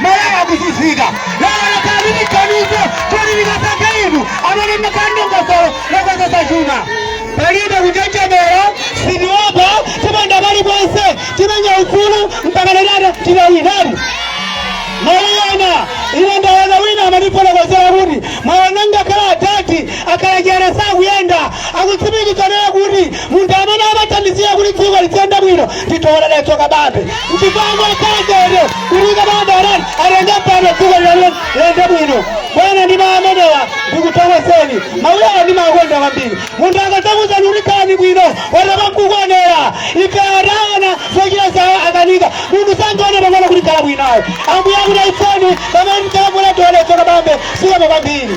Malawi akuzunzika lero lekani tiganize kuti tikapanga inu amene mwaika dongosolo lokonzetsa chuma palibe kunjenjemera sitiopa tiponda paliponse timenya ufulu mpaka lelata tilawinani mawiyana ine ndaona wina amandifotokozera kuti mwaona ngakhale atati akalajeresa akuyenda akutsimikiza naye kuti Munthu amene amathandizira kuti dziko liziyenda bwino ndi Dr Dalitso Kabambe nchifukwa angokhala chete kuti Kabambe anati atenge mpando dziko lilalo liyende bwino bwana ndi mawu amenewa ndikuthokozeni mawu awa ndimakonda kwambiri munthu akadzakuuzani kuti khalani bwino watapa nkukuonera ife ataona zochita zawo akanika munthu sangaone pang'ono kuti khala bwinayo ambuye akuti aifoni pamene mchakakula Dr Dalitso Kabambe zikomo kwambiri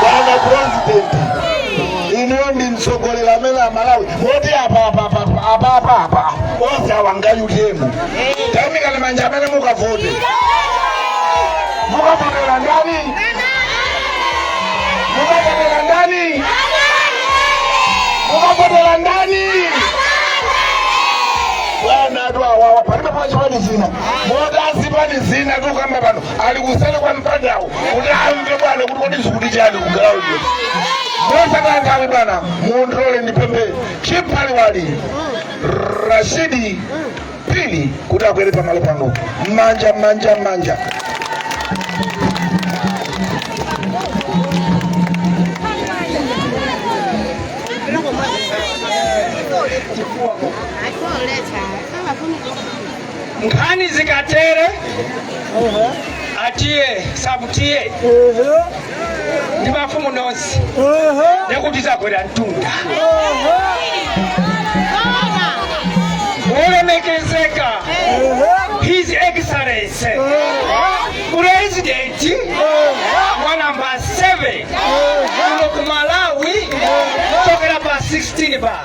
bwana president inuyo ndi mtsogoleri amene a malawi moti apapapapapapa onse awa nga utm taimikani manja amene mukavote mukavotera ndani mukavotera ndani mukavotera ndani bwana anthu awawa palibe pachipani zina moti a zipani zina tikukamba pano ali kuseri kwa mpandawo kuti amve bwana kuti kodi zikuti chani kugalawo mosataya nthawi bwana mundilole ndipemphe chiphaliwali rashidi pini kuti akwere pamalo pano mmanja mmanja mmanja nkhani zikatere atiye sabutiye ndi mafumu nonse ndiye kuti zakwera mtunda olemekezeka his excellency president wa namba 7 kuno ku malawi kuchokera pa 16 ba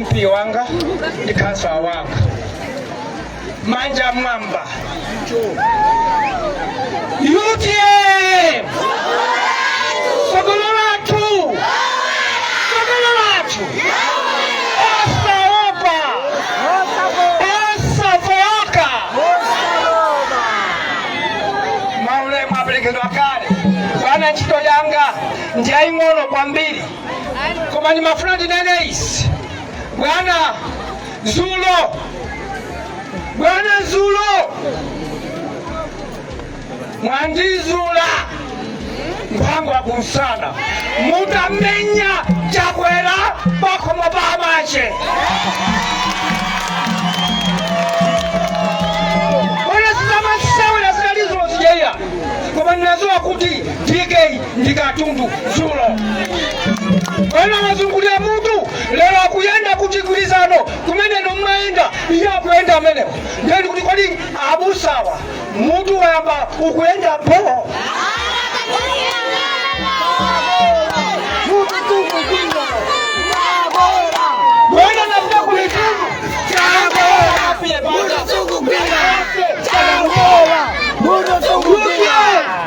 mp wanga ndi khansala wanga manja mwamba utm tsogolo lathu tsogolo lathu osaopa osafooka maulemu aperekedwa kale bwana ntchito yanga ndi yaying'ono kwambiri koma ndimafuna ndinene izi bwana dzulo bwana dzulo mwandizula munga wa kumsana mutamenya chakwera pakhomo pa amache bwana sizamasewera zinali zozijaiya koma ndinadziwa kuti dk ndi katundu dzulo ena anazungulira mutu lero akuyenda ku Chigwirizano kumene n'mayenda iye akuyenda kumeneko ndeni kuti kodi abusawa mutu wayamba ukuyenda pomwe ena anapita kuli katundu Ape, banda, zungu, kwenda. Ape, zungu, kwenda. Mundo zungu, kwenda.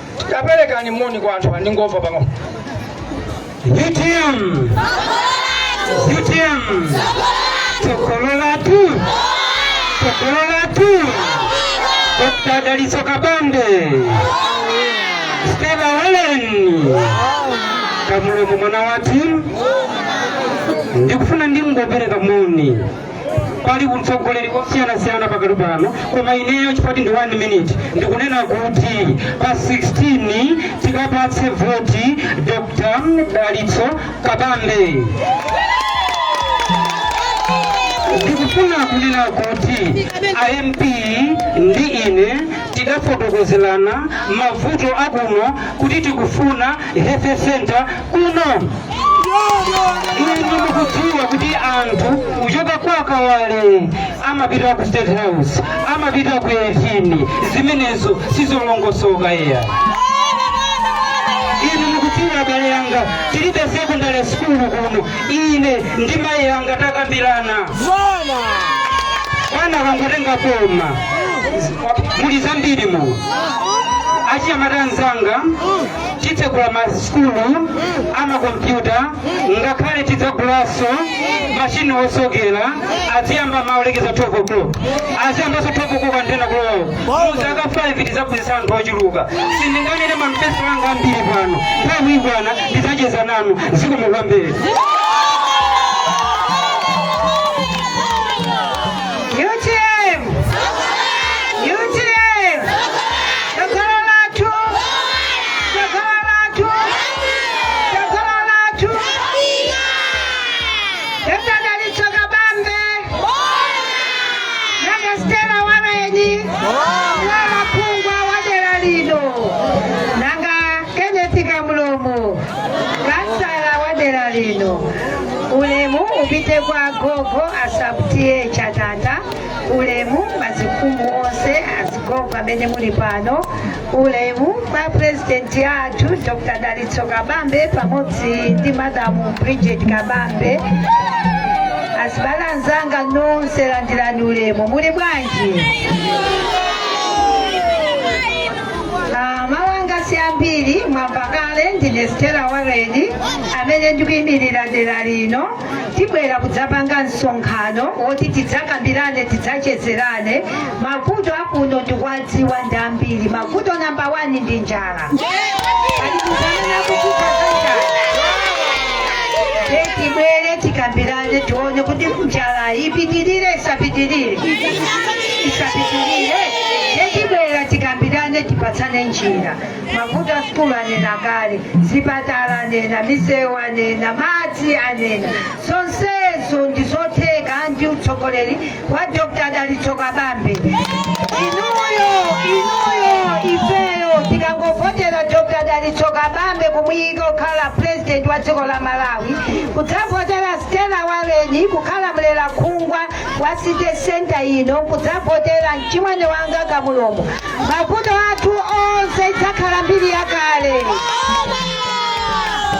Kaperekeni moni kwa anthu angomva pang'ono utm utm tsogolo lathu tsogolo lathu dr dalitso kabambe stela holeni kamulomo mwana wathu ndikufuna ndingopereka moni pali utsogoleri wosiyanasiyana pakati pano koma ineyo chimfupi ndi 1 minute ndikunena kuti pa 16 tikapatse voti dr dalitso kabambe ndikufuna kunena kuti a MP ndi ine tidafotokozerana mavuto akuno kuti tikufuna health center kuno inu mukudziwa kuti anthu kuchoka kwa kawale amapita ku state house amapita ku 18 zimenezo sizolongosoka iya inu mukudziwa abale yanga tilibe secondary school kuno ine ndi mayi yanga takambirana bwana akangotenga boma muli zambiri mu achinyamata anzanga titsegula masukulu amakompyuta ngakhale tidzagulaso mashini osokera aziyamba mmawa kulekeza 12 o'clock aziyambaso 12 o'clock mpaka kulowawo muzaka 5 tizaphunzitsa anthu ochuluka sindinganene manifesto anga ambiri pano nthawi ikakwana ndidzacheza nanu zikomo kwambiri UTM! UTM! Tsogolo lathu! Tsogolo lathu! Tsogolo lathu! Dr. Dalitso Kabambe! Dr. Stella Wareni! Phungu wa dera lino! Nanga Kenneth Kamulomo! Kansala wa dera lino! Ulemu upite kwa agogo a Sub T/A Chatata ulemu mafumu onse azigogo amene muli pano ulemu kwa purezidenti athu dr dalitso kabambe pamodzi ndi madamu bridget kabambe azibale anzanga nonse landirani ulemu muli bwanji Mawu anga si ambiri mwamva kale ndine stela waleni amene ndikuyimirira dera lino tibwera kudzapanga msonkhano woti tidzakambirane tidzachezerane mavuto akuno tikuwadziwa ndi ambiri mavuto namba wani ndi njala Pali munthu amene akuvutika za njala Ndiye tibwere tikambirane tione kuti njala ipitirire isapitirire isapitirire nde tibwera tikambirane tipatsane njira mavuto a sukulu anena kale zipatala anena misewu anena madzi anena zonsezo ndi zotheka ndi utsogoleri wa dr dalitso kabambe inuyo inuyo ifeyo tikangovotera dr dalitso kabambe kumuyika kukhala president wa dziko la malawi kudzavotera stela waleni kukhala mlera khungwa wa city center ino kudzavotera mchimwene wanga kamulomo mavuto athu onse idzakhala mbiri yakale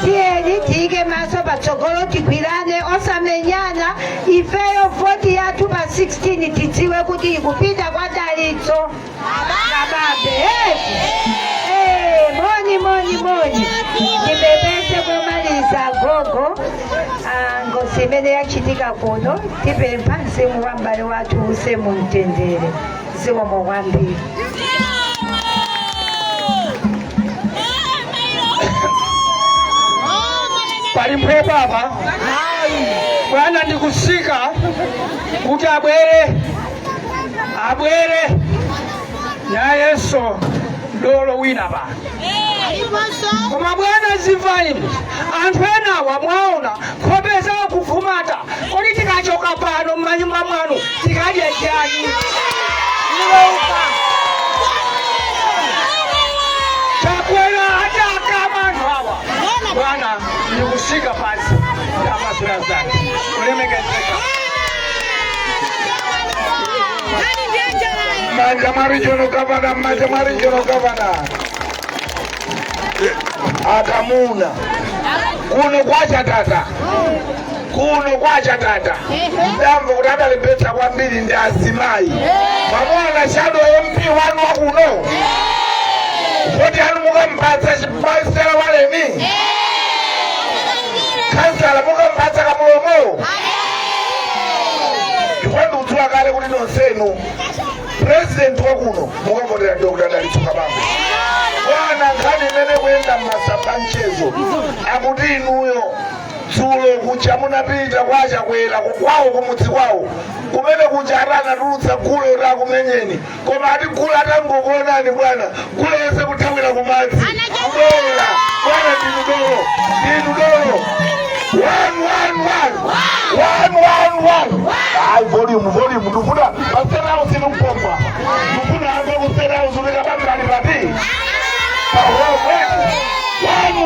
tiyeni tiyike maso patsogolo tigwirane osamenyana ifeyo voti yathu pa 16 tidziwe kuti ikupita kwa dalitso Kabambe eti Eh, moni moni moni ndipepese komaliza gogo ah, ngozi imene yachitika kuno tipempha mzimu wa m'bale wathu use mu mtendere zikomo kwambiri pali mphepo apa bwana ndikutsika kuti abwere abwere nayenso dolo wina pa koma bwana timvereni anthu enawa mwaona nkhope zawo kufumata kodi tikachoka pano m'manyumba mwanu tikadya chani chakwera atakama anthu awa bwana ndikutsika pansi ndamazira zake kulemekezeka Manja kwa regional governor, manja kwa regional governor. Akamuna. Kuno kwa chatata. Kuno kwa chatata. Ndamva kuti adalembetsa kwambiri ndi azimayi. Mwamuona shadow MP wanu wa kuno. Voti yanu mukampatsa chief Stela waleni. Khansala mukampatsa kamulomo. chifukwa ndikudziwa kale kuti nonsenu president wakuno mukavotera dr dalitso kabambe bwana nkhani imene ikuyenda mmasamba a mchezo akuti inuyo dzulo kuja munapita kwa chakwera kukwawo kumudzi kwawo komwe kuja ati anatulutsa gule kuti akumenyeni koma ati gula atangokuonani bwana gula yese kuthawira kumadzi kubwera bwana ndinu dolo ndinu dolo One, one, one. One, one, one. Ayi volume, volume. Ndufuna pasera house inumpomba. Ndifuna ayambe kuseri house unikabanga alipati. Pahomwe.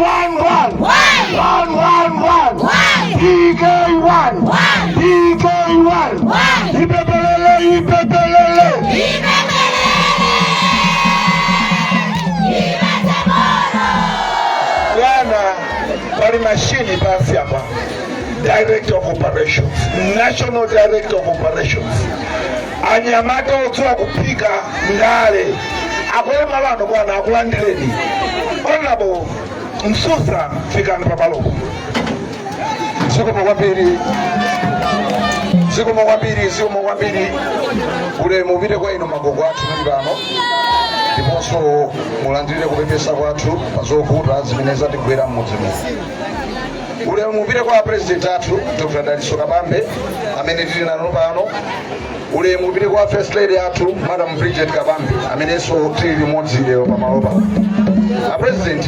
One, one, one. One, one, one. DK one. DK one. Ipepelele, ipepelele. Bwana, pali mashini pansi apa. Director of Operations, National Director of Operations. anyamata odziwa kuphika ndale akuyembekeza lano bwana akulandireni honorable msusa fikani pamalopo zikomo kwambiri zikomo kwambiri zikomo kwambiri ulemu upite kwa inu magogo athu muli pano ndiponso mulandire kupepesa kwathu pa zovuta zimene zatigwera m'mudzi muno ulemu upite kwa apresident athu dr daliso kabambe amene tili nawo pano ulemu upite kwa first lady athu madam bridget kabambe amenenso tili limodzi lero pamalo pano apresident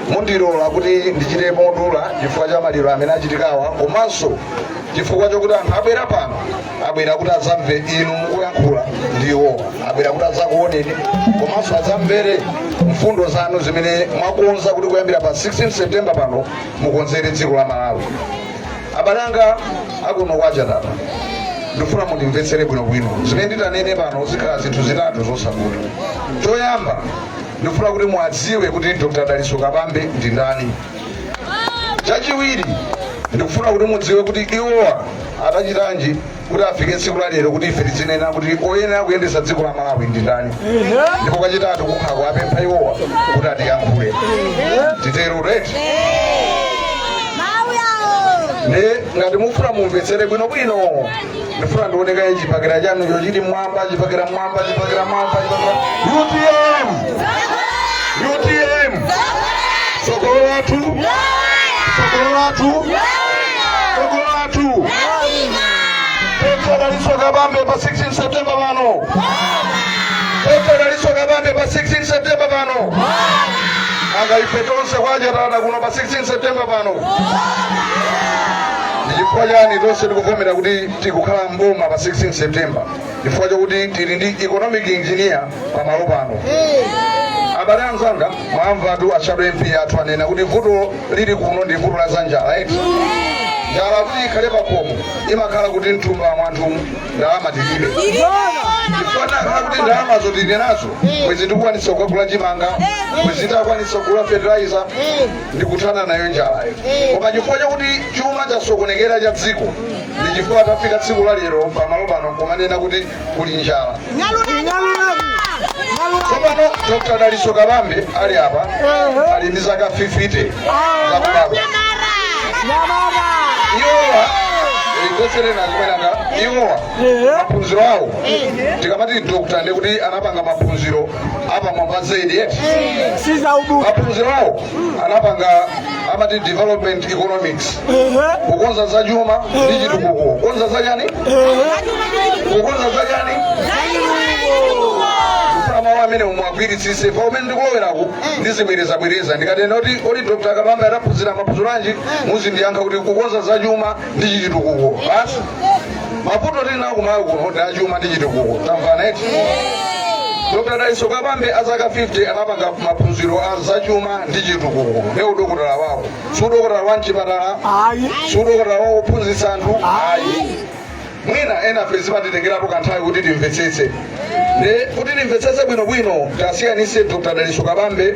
mundilole kuti ndichite modula chifukwa cha maliro amene achitikawa komanso chifukwa chokuti anthu abwera pano abwera kuti adzamve inu mukuyankhula ndiwo abwera kuti adzakuoneni komanso adzamvere mfundo zanu zimene mwakonza kuti kuyambira pa 16 september pano mukonzere dziko la malawi abale anga akuno kwacha tapa ndikufuna mundimvetsere bwinobwino zimene nditanene pano zikhala zinthu zitatu zosavuta choyamba ndikufuna kuti muwadziwe kuti dr daliso kabambe ndi ndani chachiwiri ndikufuna kuti mudziwe kuti iwowa adachitanji kuti afike tsiku la lero kuti ife tidzinena kuti oyenera kuyendetsa dziko la malawi ndi ndani ndipo kachitatu kukhala kuwapempha iwowa kuti atiyankhule titero eti nde ngati mufuna mumvetsere bwinobwino ndifuna ndioneko chipakira chanu icho chiri mwamba chipakira mwamba chipakira mwamba chipakira utm utm tsogolo lathu tsogolo lathu tsogolo athu dr daliso kabambe pa 16 septemba pano dr daliso kabambe pa 16 septemba pano anga ife tonse kwachatana kuno pa 16 septemba pano chifukwa chani tonse tikuvomera kuti tikukhala mboma pa 16 september chifukwa chakuti tili ndi economic engineer pamalo pano abale anzanga mwamvatu a shadow mp athu anena kuti vuto lili kuno ndi vuto la za njala eti njala kuti ikhale pakhomo imakhala kuti mthumba mwanthu ndalama tilibe chikanakhala kuti ndalama zo tili nazo bwezi tikukwanisa kugula chimanga bwezi takwanisa kugula fertilizer ndi kuthana nayo njalayo koma chifukwa chakuti chuma chasokonekera cha dziko ndi chifukwa tafika tsiku la lero pamalo pano kumanena kuti kuli njala tsopano dr daliso kabambe ali apa ali ndi zaka 50 zakubadwa iwowa ndikuwaserera zimene inga iwowa maphunziro awo tikamati dr ndiye kuti anapanga maphunziro apamwamba zaidi eti maphunziro awo anapanga amati development economics kukonza za chuma ndi chitukuko kukonza za chani kukonza za chani kufuna mawu amene muwagwiritsitse pamene ndikulowerako ndizibwerezabwereza ndikatena kuti kodi dr kabambe adaphunzira maphunziro anji muzindiyankha kuti kukonza za chuma ndi chitukuko basi mavuto tili nawo kumalawi kuno ndi achuma ndi chitukuko tamvana eti dr daliso kabambe azaka 50 anapanga maphunziro a zachuma ndi chitukuko ndi udokotala wawo si udokotala wa mchipatala ayi si udokotala wa wophunzitsa anthu ayi mwina ena ife zimatitengerapo kanthawi kuti timvetsetse ndi kuti timvetsetse bwinobwino tisiyanitse dr daliso kabambe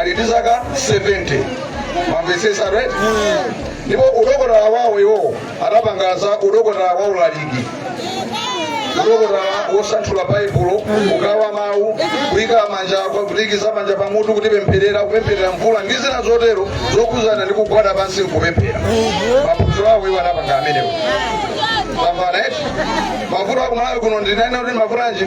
ali ndi zaka 70 mwamvetsetsa right ndipo udokotala wawo iwowo adapanga za udokotala wa ulaliki udokotala wosanthula baibulo kugawa mawu kuyika manja kuikiza manja pamutu kukupempherera kupempherera mvula ndi zina zotero zokhudzana ndi kugwada pansi nkupemphera maphunziro awo iwo adapanga amenewo tamvana eti mavuto akumalawi kuno ndinene kuti mavuto anji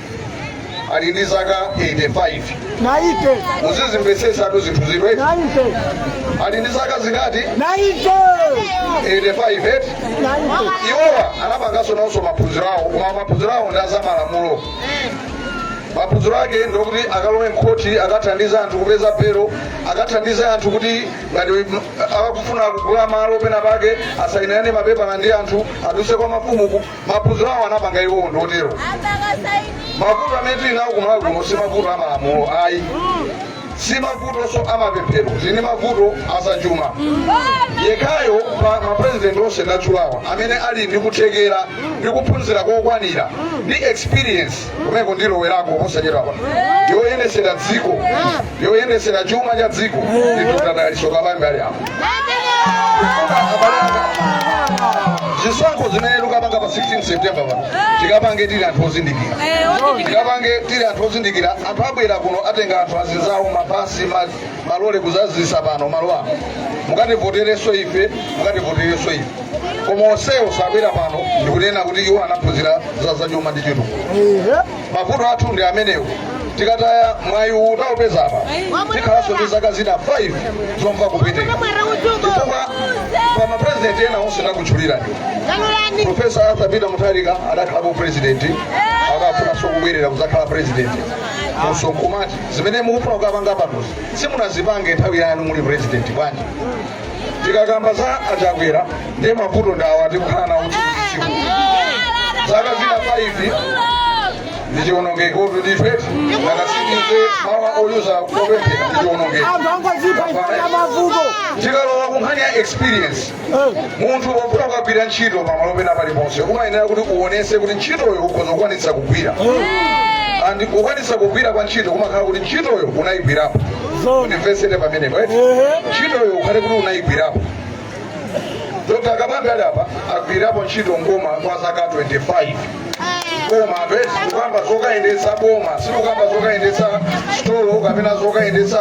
ali ndi zaka 85 naite muzizimvetsetsatu zinthu izi eti naite ali ndi zaka zingati naite 85 eti iwowa anapanganso nawonso maphunziro awo koma maphunziro awo ndi azamalamulo maphunziro ake ndi okuti akalowe mkhoti akathandize anthu kupeza belo akathandize anthu kuti ngati m- akufuna kugula malo pena pake asayinirane mapepala ndi anthu aduse kwa mafumu ku- maphunziro awo anapanga iwowo ndi otero mavuto amene tili nawo kumalawi kuno si mavuto a malamulo ayi si mavutonso a mapemphero tili ndi mavuto azachuma yekhayo pa mapurezidenti onse ndatchulawa amene ali ndi kuthekera ndi kuphunzira kokwanira ndi experience kumeko ndilowelako posachedwapa yoyendesera dziko yoyendesera chuma cha dziko ndi dr daliso kabambe ali apo zisankho zimene tikapange pa 16 september pano tikapange tili anthu ozindikira tikapange tili anthu ozindikira anthu abwera kuno atenga anthu azinzawo mabasi ma malole kudzadzitsa pano malo ano mukativoterenso ife mukativoterenso ife koma onsewo sabwera pano ndikunena kuti iwo anaphunzira za zachuma ndi chitukuko mavuto athu ndi amenewo tikataya mwayi uwu taupeza apa tikhalanso ndi zaka zina 5 zomva kupweteka chifukwa pa maprezidenti ena onse ndakutchulirani profesa arthur peter mutharika adakhalapo president akufunanso kubwerera kudzakhala president funso nkumati zimene mukufuna kukapanga panozi simunazipange nthawi yanu muli president bwanji tikakamba za a Chakwera ndiye mavuto ndawa tikukhala nawo tsiku zaka zina 5 ndichiwonongekotu ndithu eti akasikize mawa oyuza kopemphera ndichiwonongeko anthu angozipha ifana mavuto tikalowa kunkhani ya experience munthu wofuna kukagwira ntchito pamalo pena paliponse umayenera kuti uonese kuti ntchitoyo ukhoza kukwanitsa kugwira and kukwanitsa kugwira kwa ntchito kumakhala kuti ntchitoyo unayigwirapo mundimvetsere pamenepo eti ntchitoyo ukhale kuti unayigwirapo dr kabambe ali apa agwirapo ntchito mboma kwa zaka 25 koma apeti kukamba zokayendetsa boma sikukamba zokayendetsa sitolo kapena zokayendetsa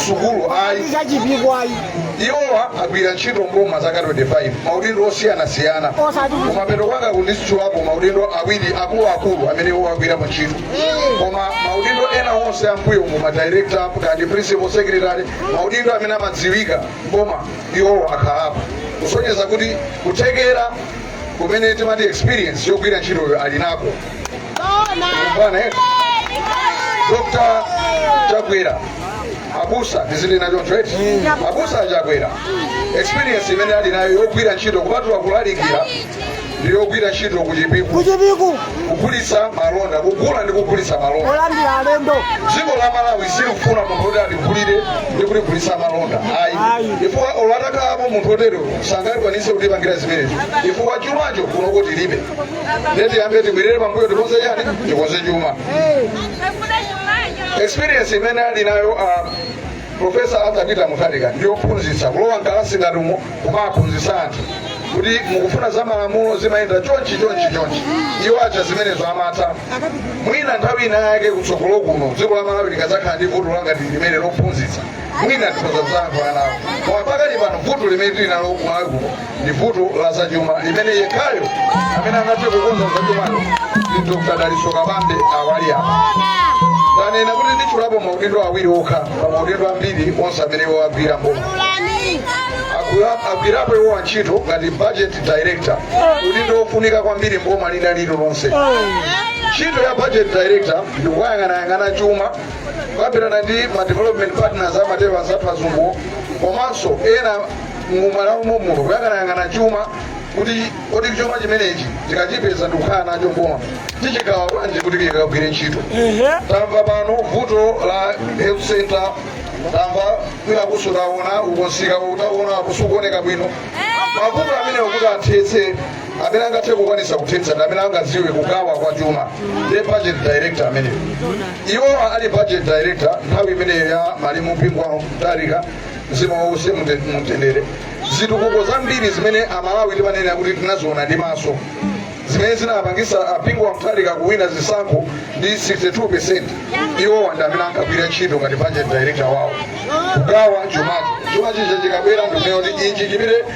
sukulu ayi zachipikwayi iwowa agwira ntchito mboma zaka 25 maudindo osiyanasiyana kumapeto kwanga kuno nditchulapo maudindo awiri akuluakulu amene iwo agwirapo ntchito koma maudindo ena onse ammbuyomu madirekta kaya principal secretary maudindo amene amadziwika mboma iwowo akhalapo kusonyeza kuti kuthekera kumene timati experience yogwira ntchitoyo ali nako bwana eh? dr chakwera abusa tili nacho eti abusa a Chakwera experience imene ali nayo yogwira ntchito kupatula kulalikira ndi yogwira ntchito ku Chipiku ku Chipiku kugulitsa malonda kugula ndi kugulitsa malonda kolandira alendo dziko la malawi silifuna munthu woti aligulire ndi kuligulitsa malonda ayi Ayi. chifukwa olatakalapo munthu otero sangakwanise kutipangira zimenezo chifukwa chumacho kunoko tilibe ndiye tiyambe tibwerere pambuyo tikonze chani tikonze chuma experience imene ali nayo uh, profesa arthur peter mutharika ndiyophunzitsa kulowa mkalasi ngati umo kumaphunzitsa anthu kuti mukufuna za malamulo zimayenda chonchi chonchi chonchi iwo aja zimenezo amatha mwina nthawi ina yake kutsogolo kuno dziko la malawi likadzakhala ndi vuto la ngati limene lophunzitsa mwina tikhoza kudzayankhulana nawo koma pakali pano vuto limene tili nalo ku malawi kuno ndi vuto la zachuma limene yekhayo amene angathe kukonza zachumalo ndi dr dalitso kabambe awa ali apa ndanena kuti nditchulapo maudindo awiri okha pa maudindo ambiri onse amene iwo agwira mboma Agwira- agwirapo iwowa ntchito ngati budget director udindo wofunika kwambiri m'boma lina lililonse ntchito ya budget director ndikuyang'anayang'ana chuma kukambirana ndi ma development partners amatiwa anzathu azungu komanso ena mumalawi mommuno kuyang'anayang'ana chuma kuti kodi chuma chimenechi tikachipeza ndikukhala nacho mboma tichigawa bwanji kuti chikagwire ntchito tamva pano vuto la health center tamva kwina kusutaona ukonsika utaona kusukuoneka bwino mavuto amenewo kuti athetse amene angathe kukwanisa kuthetsa ndi amene angaziwe kugawa kwa chuma ndi budget director ameneyo iwowa ali budget director nthawi imeneyo ya malemu Bingu wa Mutharika mzimu wawo uwuse mumtendere zitukuko zambiri zimene amalawi timanena kuti tinaziona ndi maso zimene zinapangisa a Bingu wa Mutharika kuwina zisankho ndi 62 iwowa ndi amene ankagwira ntchito ngati budget director wawo kugawa chumachi chumachi chikabwera ndikuneyo kuti ichi chimene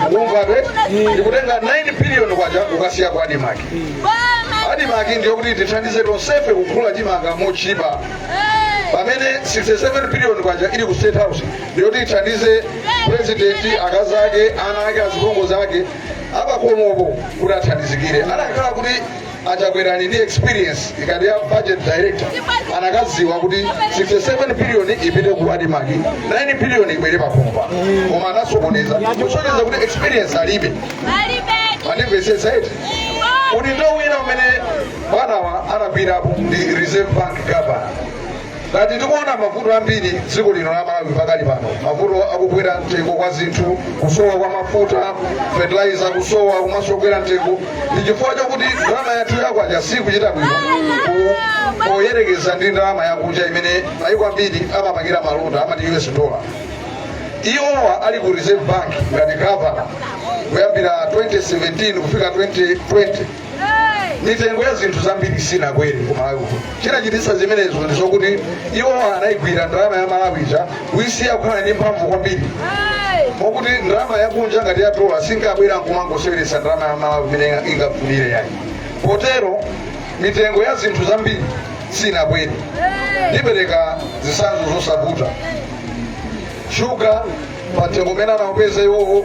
mukumva be ndikutenga 9 billion kwacha kukasiya ku Admarc Admarc ndiyo kuti ithandize tonsefe kugula chimanga motchipa pamene 67 billion kwacha ili ku state house ndiyo kuti ithandize president akazi ake ana ake azipongozi ake apakhomopo kuti athandizikire anakhala kuti a Chakwera ali ndi experience ngati ya budget director anakaziwa kuti 67 billion ipite ku Admarc 9 billion ibwere pakhomopa koma anasokoneza kusonyeza kuti experience alibe mwandimvetsetsa eti kuti ntchito ina imene bwanawa anagwirapo ndi reserve bank governor ngati tikuona mavuto ambiri dziko lino la malawi pakali pano mavuto akukwera mtengo kwa zinthu kusowa kwa mafuta fertilizer kusowa komanso kukwera mtengo ndi chifukwa chakuti ndalama yathu yakwacha sikuchita bwino ku- poyerekeza ndi ndalama yakunja imene mayiko ambiri amapangira malonda amati us dollar iwowa ali ku reserve bank ngati gavana kuyambira 2017 kufika 2020 mitengo ya zinthu zambiri sinakwere ku malawi kuno chinachititsa zimenezo ndi zokuti iwo anayigwira ndalama ya malawi ija kuyisiya kukhala ndi mphamvu kwambiri mokuti ndalama yakunja ngati ya dola sinkabwera nkumangoseweretsa ndalama ya malawi mmene ingafunire yayi potero mitengo ya zinthu zambiri sinakwere ndipereka zitsanzo zosavuta shuga pa mtengo umene anamupeza iwowo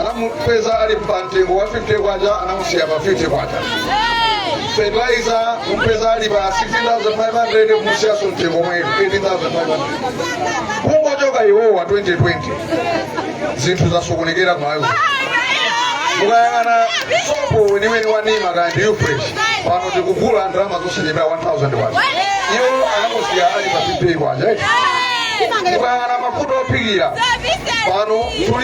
anamupeza ali pa mtengo wa 50 kwacha anamusiya pa 50 kwacha fertilizer kumpeza ali pa 16500 kumusiyanso mtengo mwetu 18500 kungochoka iwowa 2020 zinthu zasokonekera mMalawi mukayang'ana sopo weniweni wa nima kaya ndi ufresh pano tikugula ndalama zosachepera 1000 kwacha iwo anamusiya ali pa 50 kwacha mukayang'ana mafuta ophikira pano tuli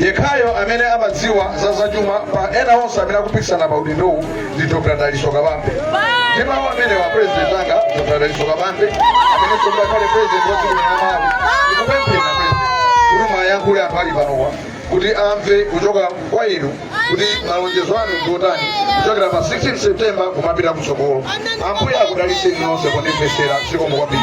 Yekhayo amene amadziwa za zachuma pa ena onse amene akupikisana pa udindowu ndi Dr. Dalitso Kabambe. Ndi mawu amenewa, president anga Dr. Dalitso Kabambe amene tsopano akhale president wa dziko la Malawi. Ndikupemphera president kuti mwayankhule anthu ali panowa kuti amve kuchoka kwa inu kuti malonjezo anu ndi otani kuchokera pa 16 September kumapita kutsogolo. Ambuye akudalitseni nonse kundimvetsera zikomo kwambiri.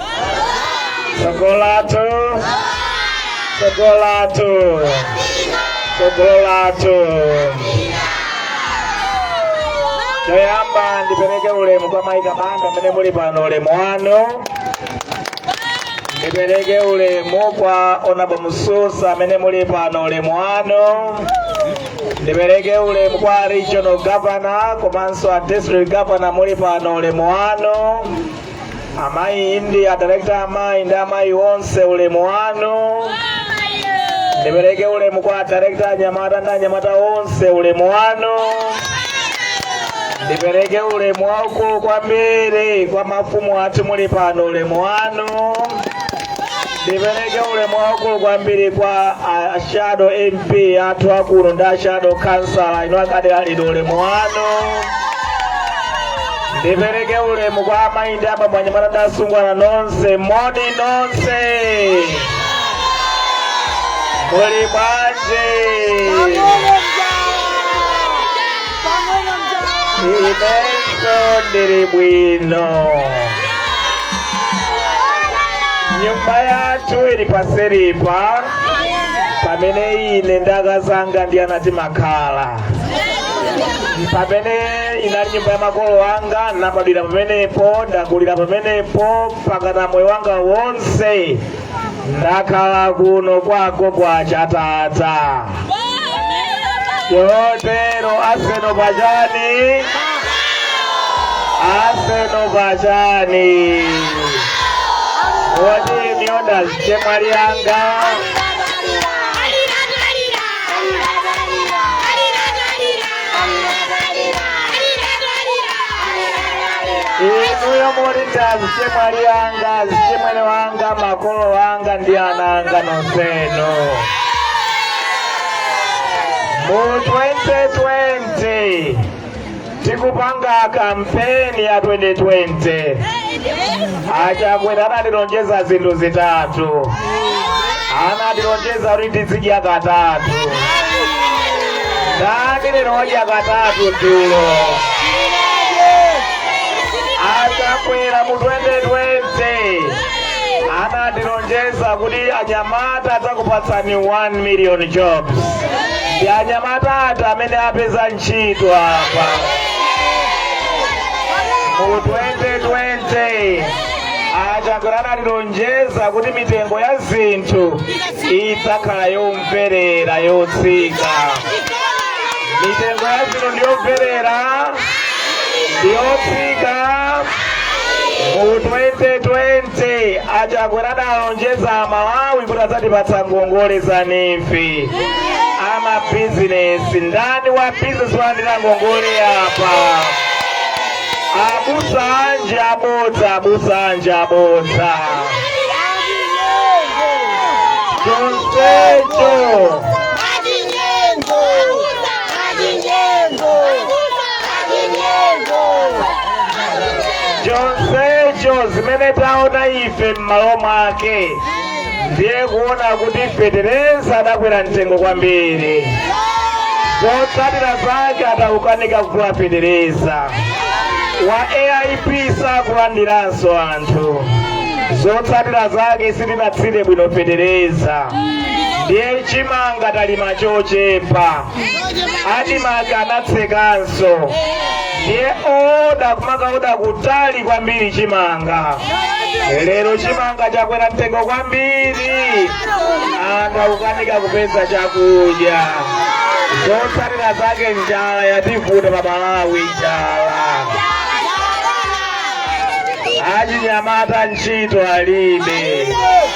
tsogolo lathu tsogolo lathu tsogolo lathu choyamba ndipereke ulemu kwa Maika Banda amene muli pano ulemu wanu ndipereke ulemu kwa Honourable Mususa amene muli pano ulemu wanu ndipereke ulemu kwa regional governor komanso a district governor muli pano ulemu wanu amayi ndi a director amayi ndi amayi onse ulemu wanu ndipereke ulemu kwa a director anyamata ndi anyamata onse ulemu wanu ndipereke ulemu waukulu kwambiri kwa mafumu athu muli pano ulemu wanu ndipereke ulemu waukulu kwambiri kwa a- a shadow MP athu akuno ndi a shadow councillor ino akudera lino ulemu wanu ndipereke ulemu kwa amayi ndi abambo anyamata ndi asungwana nonse moni nonse muli bwanji inenso ndili bwino nyumba yathu ili paseripa pamene ine ndi akazanga ndi ana timakhala pamene inali nyumba ya makolo anga nabadwira pamenepo ndakulira pamenepo mpakana moyo wanga wonse ndakhala kuno kwako kwa chatata chotero aseno pachani aseno pachani woti miyonda azichemwali anga inuyo muli azichemwali anga azichimwene anga makolo wanga ndi ana anga nonsenu mu 2020 tikupanga kampeni ya 2020 a Chakwera anatilonjeza zinthu zitatu anatilonjeza kuti tizidya katatu ndani anadya katatu dzulo a Chakwera mu 2020 anatilonjeza kuti anyamata ndidzakupatsani 1 million jobs ndi anyamata ati amene apeza ntchito apa mu 2020 a Chakwera anatilonjeza kuti mitengo ya zinthu idzakhala yomverera yotsika mitengo ya zinthu ndiyomverera ndiyotsika mu 2020 a Chakwera analonjeza amalawi kuti adzatipatsa ngongole za NEEF a mabizinesi ndani wa bizinesi walandira ngongole apa abusa anji abodza abusa anji abodza chonsecho chonsecho zimene taona ife m'malo mwake ndiye kuona kuti feteleza adakwera mtengo kwambiri zotsatira zake atakanika kugula feteleza wa aip sakulandiranso anthu zotsatira zake sitinathire bwino feteleza ndiye chimanga talima chochepa Admarc anatsekanso ndiye oda kumakaoda kutali kwambiri chimanga lero chimanga chakwera mtengo kwambiri anthu akukanika kupeza chakudya zotsatira zake njala yativuta pa malawi njala achinyamata ntchito alibe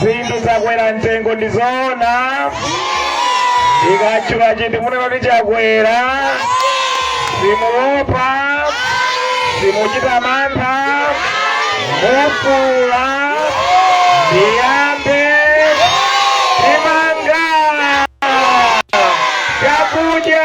zinthu zakwera mtengo ndi zoona ndikatchula chinthu munena kuti chakwera simuwopa simuchita mantha mufuula ndiyambe chimanga chakudya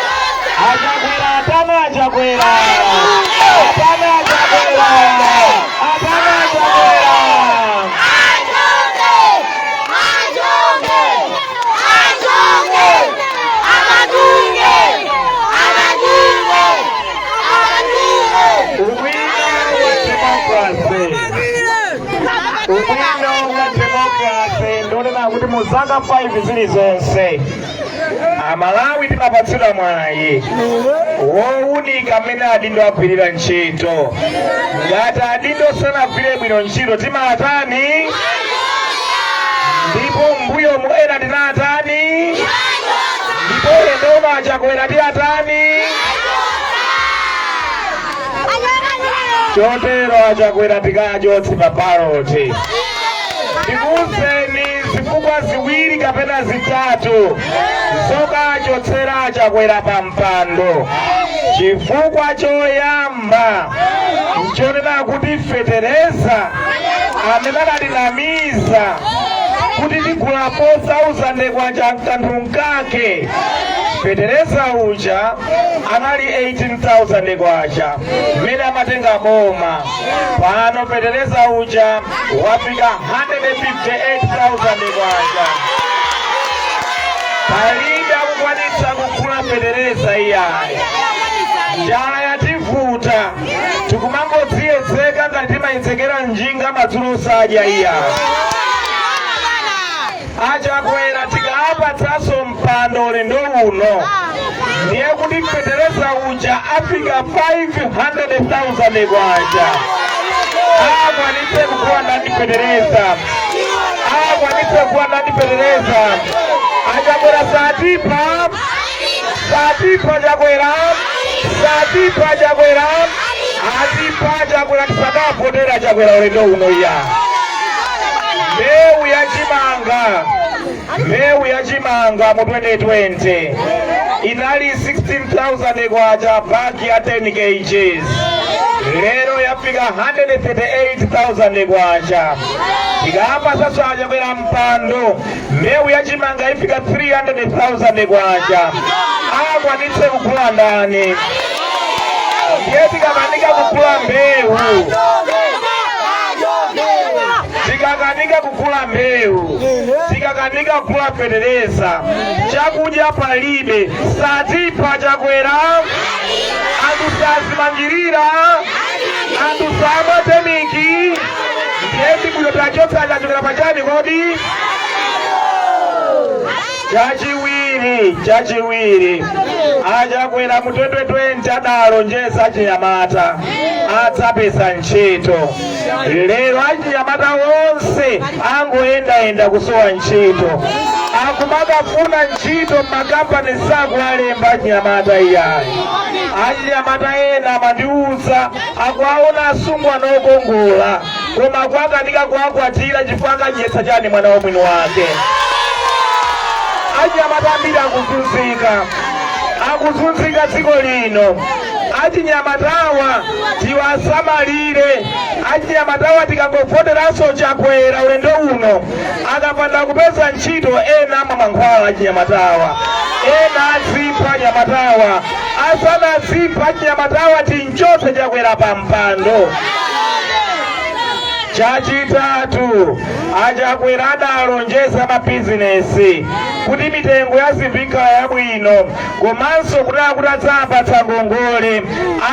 A Chakwera atani a Chakwera atani a Chakwera atani a Chakwera ubwino wa demokrase ubwino wa demokrase ndi wonena kuti mu zaka 5 zilizonse amalawi timapatsidwa mwayi wowunika mmene adindo agwirira ntchito ngati adindo sanagwire bwino ntchito timawatani ndipo mbuyomu ena tinawatani ndipo ulendo uno achakwera tiwatani chotero achakwera tikawachotse pa baloti ndikuuzeni zifukwa ziwiri kapena zitatu zokachotsera chakwera pa mpando chifukwa choyamba nchonena kuti fetereza amene adatinamiza kuti tigula 4000 kwacha nkanthu nkake fetereza uja anali 18000 kwacha mmene amatenga boma pano fetereza uja wafika 158,000 kwacha palibe akukwanitsa kugula fetereza iyayi njala yativuta tikumangodziyedzeka ngati timayedzekera njinga madzulo osadya iyayi achakwera tikawapatsanso mpando ulendo uno ndiye kuti fetereza uja afika 500,000 kwacha akwanitse kugula ndani fetereza akwanitse kugula ndani fetereza achakwera satipha Satipha chakwera Satipha chakwera Atipha chakwera tisakavotera chakwera ulendo uno iya mbewu ya chimanga mbewu ya chimanga mu 2020 inali 16000 kwacha bagi ya 10 kgs lero yafika 138000 kwacha tikapasa chakwera mpando mbewu ya chimanga ifika 300,000 kwacha akwanitse kugula ndani ndiye tikakanika kugula mbewu tikakanika kugula mbewu tikakanika kugula fetereza chakudya palibe satipha chakwera anthu sazimangirira anthu samatemeka ndiye ndi bwino tiwachotse achakwera pachani kodi chachiwiri chachiwiri achakwera mu 2020 adalonjeza achinyamata adzapeza ntchito lero achinyamata onse angoyendayenda kusowa ntchito akumakafuna ntchito m'makampani sakuwalemba achinyamata iyayi achinyamata ena amandiuza akuwaona asungwana okongola koma akukanika kuwakwatira chifukwa akadyetsa chani mwana wa mwini wake achinyamata ambiri akuzunzika akuzunzika dziko lino achinyamatawa tiwasamalire achinyamatawa tikangovoteranso chakwera ulendo uno akapanda kupeza ntchito ena amwa mankhwala achinyamatawa ena adzipha anyamatawa asanadziphe achinyamatawa timchotse Chakwera pa mpando chachitatu a Chakwera adalonjeza amabizinesi kuti mitengo ya zinthu ikhala yabwino komanso kuti akuti adzapatsa ngongole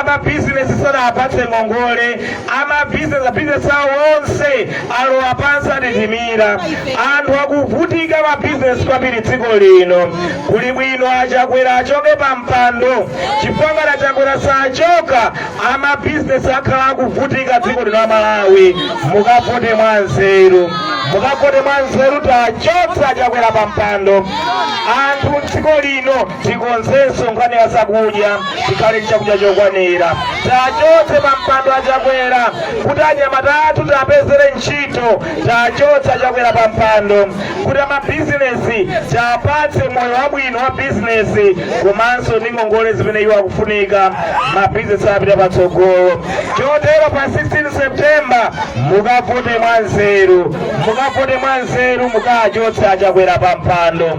amabizinesi sadapatse ngongole amabizinesi bizinesi awo onse alowa pansi atitimira anthu akuvutika mabizinesi kwambiri dziko lino kuli bwino a Chakwera achoke pa mpando chifukwa ngati a Chakwera sachoka amabizinesi akhala akuvutika dziko lino aMalawi mukavote mwa nzeru mukavote mwa nzeru tiwachotse a Chakwera pa mpando anthu dziko lino tikonzenso nkhani ya zakudya tikhale ndi chakudya chokwanira tiwachotse pampando a Chakwera kuti anyamata athu tiwapezere ntchito tiwachotse a Chakwera pampando kuti amabizinesi tiwapatse moyo wabwino wa bizinesi komanso ndi ngongole zimene iwo akufunika mabizinesi apite patsogolo chotero pa 16 septemba mukavote mwanzeru mukavote mwanzeru mukachotse a Chakwera pampando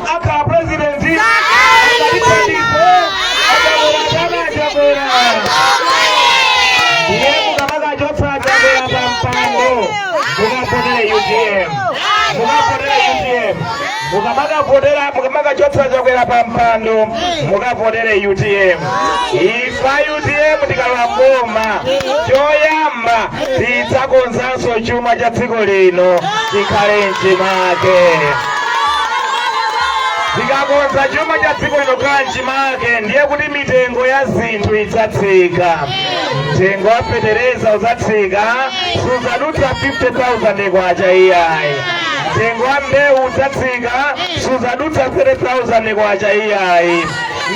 akhala president akalithandize a Chakwera chaka a Chakwera ndiye mukamakachotsa a Chakwera pa mpando mukavotere utm mukavotere utm mukamakavotera mukamakachotsa a Chakwera pa mpando mukavotere utm ife a utm tikalowa m'boma choyamba tidzakonzanso chuma cha dziko lino chikhale mchimake tikakonza chuma cha dziko lino kukhala mchimake ndiye kuti mitengo ya zinthu idzatsika mtengo wa fetereza udzatsika sudzadutsa 50000 kwacha iyayi mtengo wa mbewu udzatsika sudzadutsa 3000 kwacha iyayi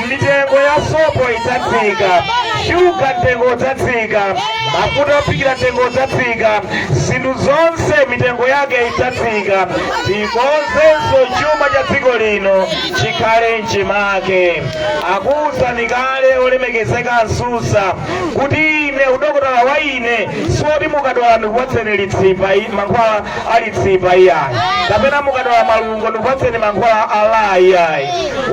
mitengo ya sopo idzatsika shuga mtengo udzatsika mafuta ophikira mtengo udzatsika zinthu zonse mitengo yake idzatsika tikonzenso chuma cha dziko lino chikhale mchimake akuwuzani kale olemekezeka a Nsusa kuti ine udokotala wa ine siwoti mukadwala ndikupatseni litsipa i- mankhwala a litsipa iyayi kapena mukadwala malungo ndikupatseni mankhwala a la iyayi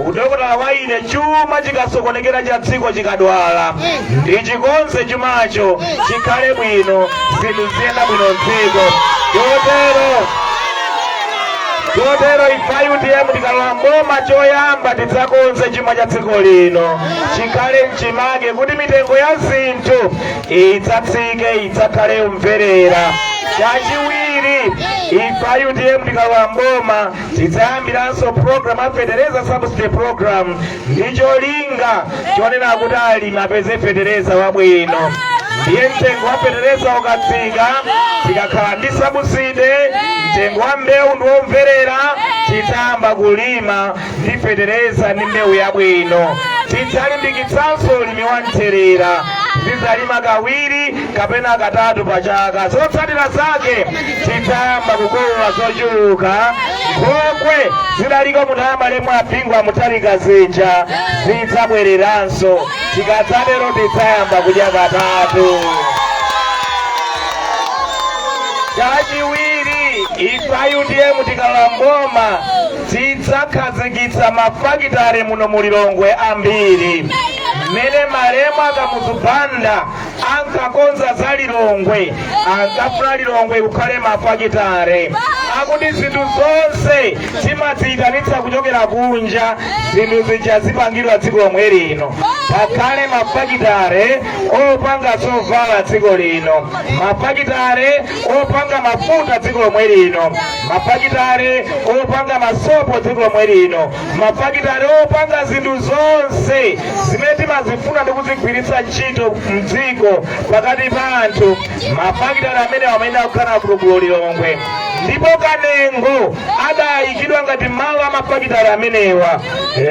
udokotala wa ine chuma chikasokonekera cha dziko chikadwala ndichikonze chumacho chikhale bwino zinthu ziyende bwino mdziko chotero chotero ife a utm tikalowa m'boma choyamba tidzakonze chuma cha dziko lino chikhale mchimake kuti mitengo ya zinthu idzatsike idzakhale yomverera chachiwiri ife a utm tikalowa mboma tidzayambiranso program ya fetereza subsidy program ndi cholinga chonena kuti alimi apeze fetereza wabwino ndiye mtengo wa fetereza ukatsika tikakhala ndi subsidy mtengo wa mbewu ndi womverera tidzayamba kulima ndi fetereza ndi mbewu yabwino tidzalimbikitsanso ulimi wa mthirira tidzalima kawiri kapena katatu pa chaka zotsatira zake tidzayamba kukolola zochuluka nkhokwe zidaliko munthawi malemu a bingu wa mutharika zija zidzabwereranso tikadzatero tidzayamba kudya katatu chachiwiri ife a utm tikalowa mboma tidzakhazikitsa mafakitale muno mu lilongwe ambiri mmene malemu akamuzu banda ankakonza za lilongwe ankafuna lilongwe kukhale mafakitale akuti zinthu zonse timaziyitanitsa kuchokera kunja zinthu zija zipangidwa dziko lomwe lino pakhale mafakitale opanga zovala dziko lino mafakitale opanga mafuta dziko lomwe lino mafakitale opanga masopo dziko lomwe lino mafakitale opanga zinthu zonse zimene timazifuna ndi kuzigwiritsa ntchito mdziko pakati pa anthu mafakitale amenewa amayenera kukhala kuno ku lilongwe ndipo kanengo adayikidwa ngati malo a mafakitale amenewa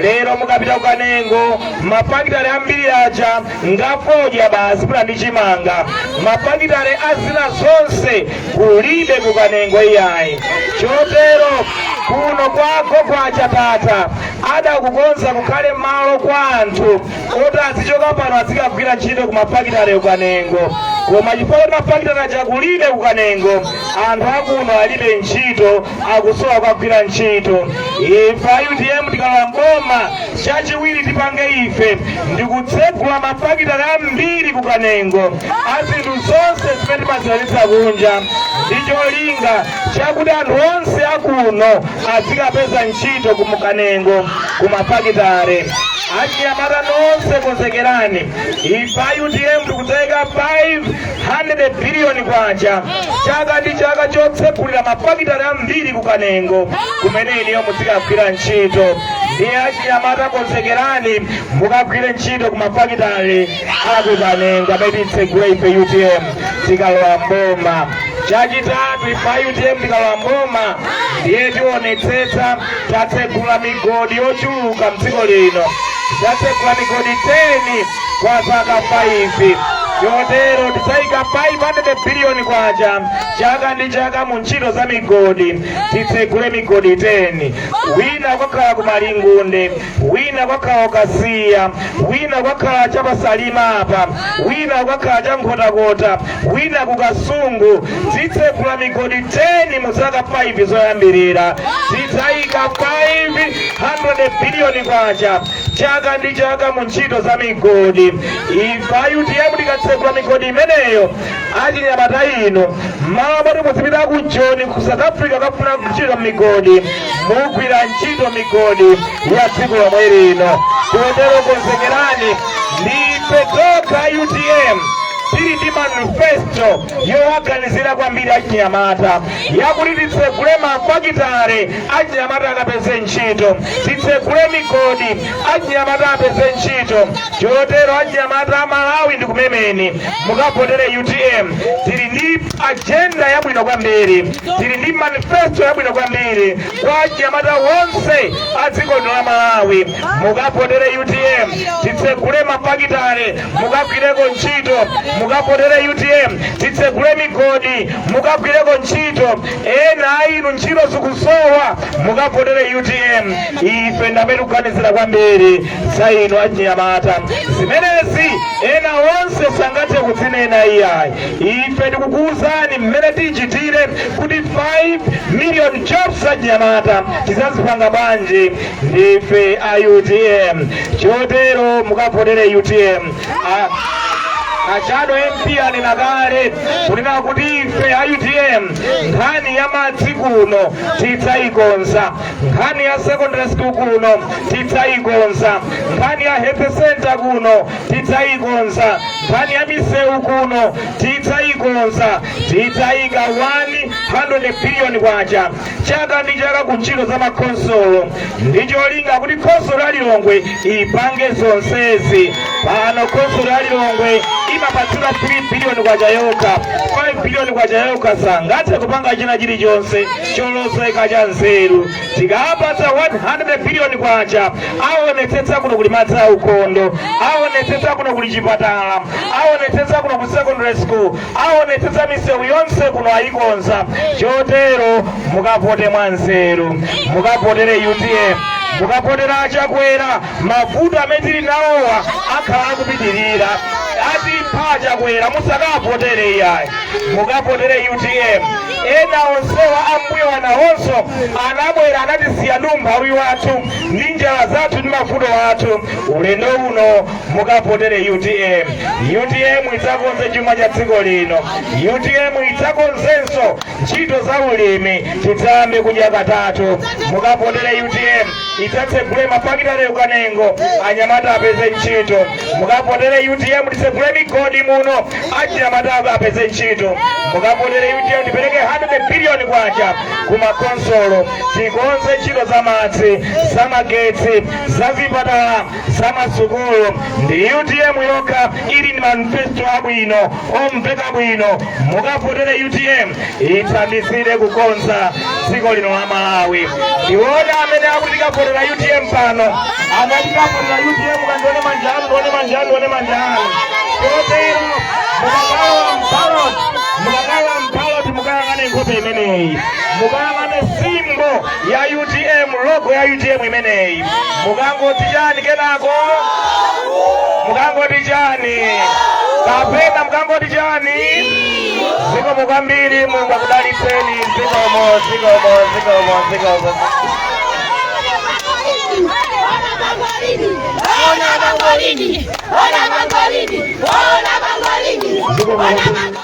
lero mukapita ku kanengo mafakitale ambiri aja ngafodya basi pula ndi chimanga mafakitale a zina zonse kulibe kukanengo iyayi chotero kuno kwako kwa chatata adakukonza kukhale malo kwa anthu oti azichoka pano azikagwira ntchito ku mafakitale kukanengo koma chifukwa kuti mafakitale aja kulibe kukanengo anthu akuno alibe ntchito akusowa kwagwira ntchito ife a utm tikalowa mboma chachiwiri tipange ife ndikutsegula mafakitale ambiri ku kanengo a zinthu zonse zimene timaziitanitsa kunja ndi cholinga chakuti anthu onse akuno azikapeza ntchito kumu kanengo ku mafakitale achinyamata nonse konzekerani ife a utm tikudzaika 5 100 biliyoni kwacha chaka ndi chaka chotsegulira mafakitale ambiri ku kanengo kumene inuyo muzikagwira ntchito ndiye achinyamata konzekerani mukagwire ntchito ku mafakitale aku kanengo amene titsegule ife utm tikalowa mboma chachitatu ife a utm tikalowa mboma ndiye tionetsetsa tatsegula migodi yochuluka mdziko lino tatsegula migodi 10 kwa zaka 5 chotero tidzayika 500 biliyoni kwacha chaka ndi chaka mu ntchito za migodi titsegule migodi 10 wina ukakhala ku malingunde wina ukakhala ku kasiya wina ukakhala cha pasalima apa wina ukakhala cha nkhotakota wina ku kasungu titsegula migodi 10 mu zaka 5 zoyambirira tidzayika 500 biliyoni kwacha chaka ndi chaka mu ntchito za migodi ife a utm tikatsegula migodi imeneyo achinyamata inu mmalo moti muzipita ku joni ku south africa kukafuna ntchito mmigodi mugwira ntchito migodi ya dziko lomwe lino chotero konzekerani ndi ife tokha utm tili ndi manifesto yowaganizira kwambiri achinyamata yakuti titsegule mafakitale achinyamata akapeze ntchito titsegule migodi achinyamata apeze ntchito chotero achinyamata a malawi ndikumemeni mukavotere utm tili ndi ajenda yabwino kwambiri tili ndi manifesto yabwino kwambiri kwa achinyamata wonse a dziko lino la malawi mukavotere utm titsegule mafakitale mukagwireko ntchito mukavotere utm titsegule migodi mukagwireko ntchito ena a inu ntchito zikusowa mukavotere utm ife ndamene tikuganizira kwambiri za inu achinyamata zimenezi ena onse sangathe kuzinena iyayi ife tikukuwuzani mmene tichitire kuti 5 million jobs za achinyamata tizazipanga bwanji ndife a utm chotero mukavotere utm A- a shadow mp anena kale kunena kuti ife a utm nkhani ya madzi kuno tidzayikonza nkhani ya secondary school kuno tidzayikonza nkhani ya health center kuno tidzayikonza nkhani ya misewu kuno tidzayikonza tidzayika 100 billion kwacha chaka ndi chaka ku ntchito za makhonsolo ndi cholinga kuti khonsolo ya lilongwe ipange zonsezi pano khonsolo ya lilongwe imapatsidwa 3 biliyoni kwacha yokha 5 biliyoni kwacha yokha sangathe kupanga china chilichonse cholozeka cha nzeru tikawapatsa 100 biliyoni kwacha aonetsetsa kuno kuli madzi aukhondo aonetsetsa kuno kuli chipatala aonetsetsa kuno kuli secondary school aonetsetsa misewu yonse kuno ayikonza chotero mukavote mwanzeru mukavotere utm mukavotera a chakwera mavuto amene tili nawowa akhala akupitirira atipha a chakwera musakawavotere iyayi mukavotere utm ena onsewa ambuyo anawonso anabwera anatisiya ndi umphawi wathu ndi njala zathu ndi mavuto athu ulendo uno mukavotere utm utm idzakonze chuma cha dziko lino utm idzakonzenso ntchito za ulimi tidzayambe kudya katatu mukavotere utm idzatsegule mafakitale ku kanengo anyamata apeze ntchito mukavotere utm titsegule migodi muno anyamata apeze ntchito mukavotere utm tipereke 100 biliyoni kwacha kumakonsolo tikonze ntchito za madzi za magetsi za zipatala zamasukulu ndi utm yokha ili ndi manifesto abwino omveka bwino mukavotere utm ithandizire kukonza dziko lino la malawi ndione amene akuti akavotera utm pano amene tikavotera utm kandione manja anu ndione manja anu ndione manja anu chotero mukakalowa mbalot mukakalowa mbalot mukayang'ane nkhope imeneyi mukayang'ane simbo ya utm logo ya utm imeneyi mukangoti chani kenako mukangoti chani kapena mukangoti chani zikomo kwambiri mulungu akudalitseni zikomo zikomo zikomo zikomo Ona mangolini, ona mangolini, ona mangolini, ona mangolini.